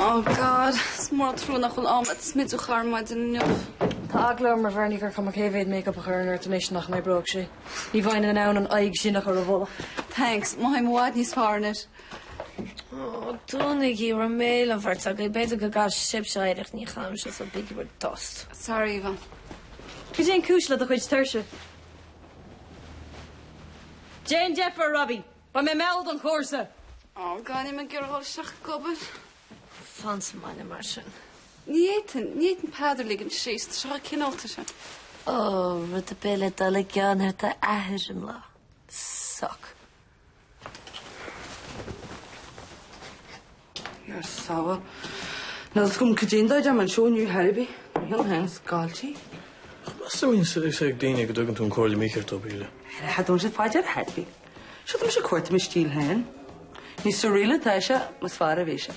Oh God, is mór an trua nach bhfuil am ag smideadh ar maidin inniu. Tá eagla orm a Bherni gur cuma cé mhéad makeup a chuirfinn ort anois nach n-oibreodh sé. Ní bheinn in ann an aghaidh sin a chur i bhfolach. Thanks, mothaím i bhfad níos fearr anois. Dúnaigí bhur mbéal, an bheirt agaibh. B'fhéidir go gcaithfidh sibhse éirí ach ní chaithimse, so bígí in bhur dtost. Sorry, Evan. Cad é an chúis le do chuid tuirse. Déan deifir, Robbie. Beidh mé mall don chúrsa. Ó, God, níl mé ag iarraidh a dhul isteach ag obair. Fan sa mbaile mar sin. Ní fhéadfainn, ní fhéadfainn Peadar a ligean síos, tá sé chomh cineálta sin. Ó, rud ar bith le dul i gcion ar do athair an lá. Suck. Ar sabhal na scumcha déan dó dearmad anseo inniu thar a bith. Ní hionadh féin, is gall tí. Más tú insa ag saor ag daoine go dtugann tú an chomhairle mhícheart dóibh íle. Ar a thadán sé faid ar a thaid bhí. Seo tá mise ag cuartú mo stíl féin. Ní súraíle atá sé, más fearr a bhí sé.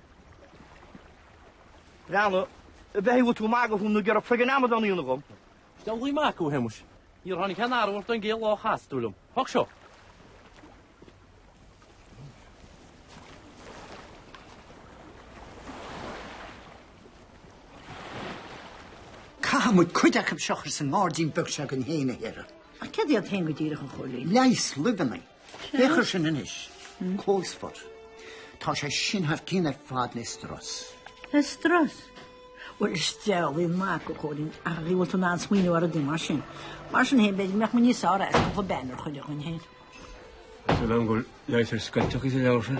Breathnaigh, bhfuil tú ag magadh fúm nó ag iarraidh fíoramadán a dhéanamh dhíom. Is diabhlaí an mac thú, a Shéamuis. Níor tháinig aon athrú ort ón gcéad lá a chas tú liom. Ach seo. Caithfidh muid cuid acu seo a chur sa ngairdín beag seo againn féin, a Sarah. Ach cad iad féin go díreach, a Chóilín? Leigheas luibheanna. Féach air sin anois? Coltsfoot. Tá sé sin thar cionn ar fad le strus. Le strus? Bhuel, is diabhlaí an mac thú, a Chóilín, an chaoi a bhfuil tú in ann smaoineamh ar rudaí mar sin. Mar sin féin, b'fhéidir go mbeadh muid níos fearr as cúpla bean ar chuid againn féin. Tá súil agam go bhfuil leigheas ar scoilteacha sa leabhar sin.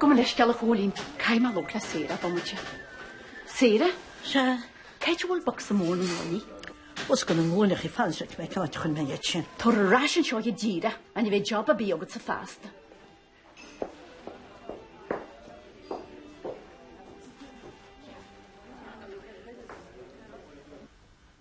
Gabh mo leithscéal a Chóilín, caithfidh mé labhairt le Sarah bomaite. Sarah? Sea? Cá háit a bhfuil bocsa mór na nGuaillí? Os cionn an nguailleach i Pharas ait bheith áit chun mé iad sin. Tabhair ar ais anseo go díreach, nó ní bheidh job ar bith agatsa feasta.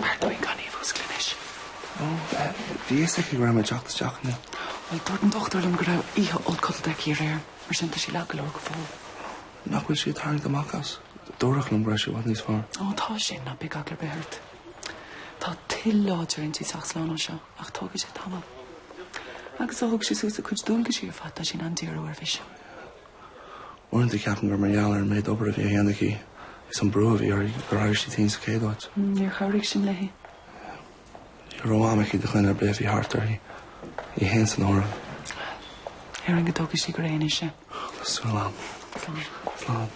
Mar dóigh gan aoibh os cionn anois. Ó, bhí a fhios aici go raibh mé ag teacht isteach inniu. Bhuel, dúirt an dochtúir liom go raibh oíche olc chodlata aici aréir, mar sin tá sí lag go leor go fóill. Nach bhfuil sí ag tarraingt amach as? Dúradh liom go raibh sí i bhfad níos fearr. Ó, tá sí, ná bíodh eagla ar bith ort. Tá toil láidir inti sách slán anseo ach tógfaidh sé tamall. Agus ó thug sí suas a cuid dualgaisí ar fad tá sí in ann díriú ar bhiseach. Uaireanta ceapaim gur mar gheall ar an méid obair a bhí a dhéanamh aici agus an brú a bhí uirthi gur éirigh sí tinn sa chéad áit. Níor chabhraigh sin léi. Ní raibh am aici do dhuine ar bith a bhí thart uirthi, í fhéin san áireamh. Déarfainn go dtógfaidh sí go réidh anois é. Tá súil agam. Slán. Slán.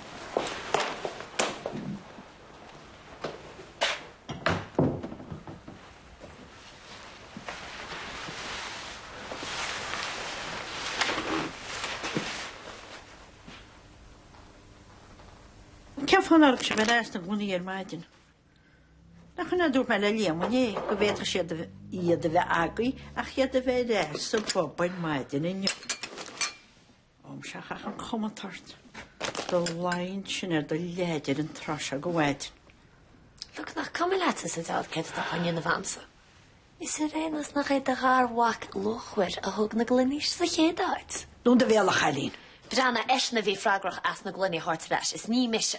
Cén fáth nár thug sibh ar ais na gloiní ar maidin? Nach in é a dúirt mé le Liam inné go bhféadfadh sibh iad a bheith agaibh ach iad a bheith ar ais sa bpub ar maidin inniu. Am seo chaith an chuma atá ort i do luí ansin ar do leaid ar an tráth seo de mhaidin. Look, nach cuma leat sa diabhal céard atá á dhéanamh agamsa. Is ar aon nós nach é do gharmhac luachmhar a thóg na gloiní sa chéad áit. Dún do bhéal, a chailín. Breathnaigh, eisean a bhí freagrach as na gloiní a thabhairt ar ais. Is ní mise.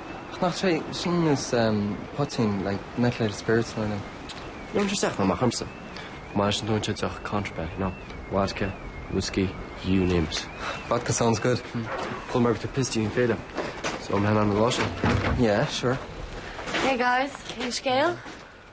Ach nach é sin is poitín, like methylated spirits nó rud. Níl sé seach amach amsa. Mar sin dúin sé teach contraband, you know, vodka, whiskey, you name it. Vodka sounds good. Chil mar go pistí an féile. So am hen an lá. Yeah, sure. Hey guys, cé scéal?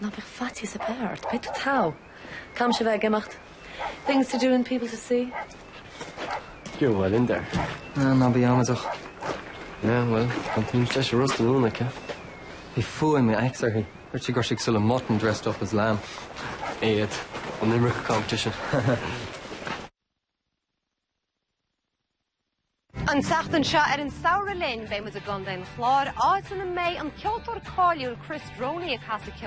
Ná bíodh faitíos ar bith ort. Beidh tú togha. Caithfidh mise a bheith ag imeacht. Things to do and people to see. You're well in there. Ah, ná bí amaideach. Yeah, well, gan tuinnt leis an rud san uan aici. Bhí fuaim i aics uirthi. Dúirt sí go raibh sí cosúil le mutton dressed up as lamb. Éad an limerick competition. An tseachtain seo ar An Samhradh Linn, beidh muid i gContae an Chláir, áit ina mbeidh an ceoltóir cáiliúil Chris Droney ag casadh ceoil.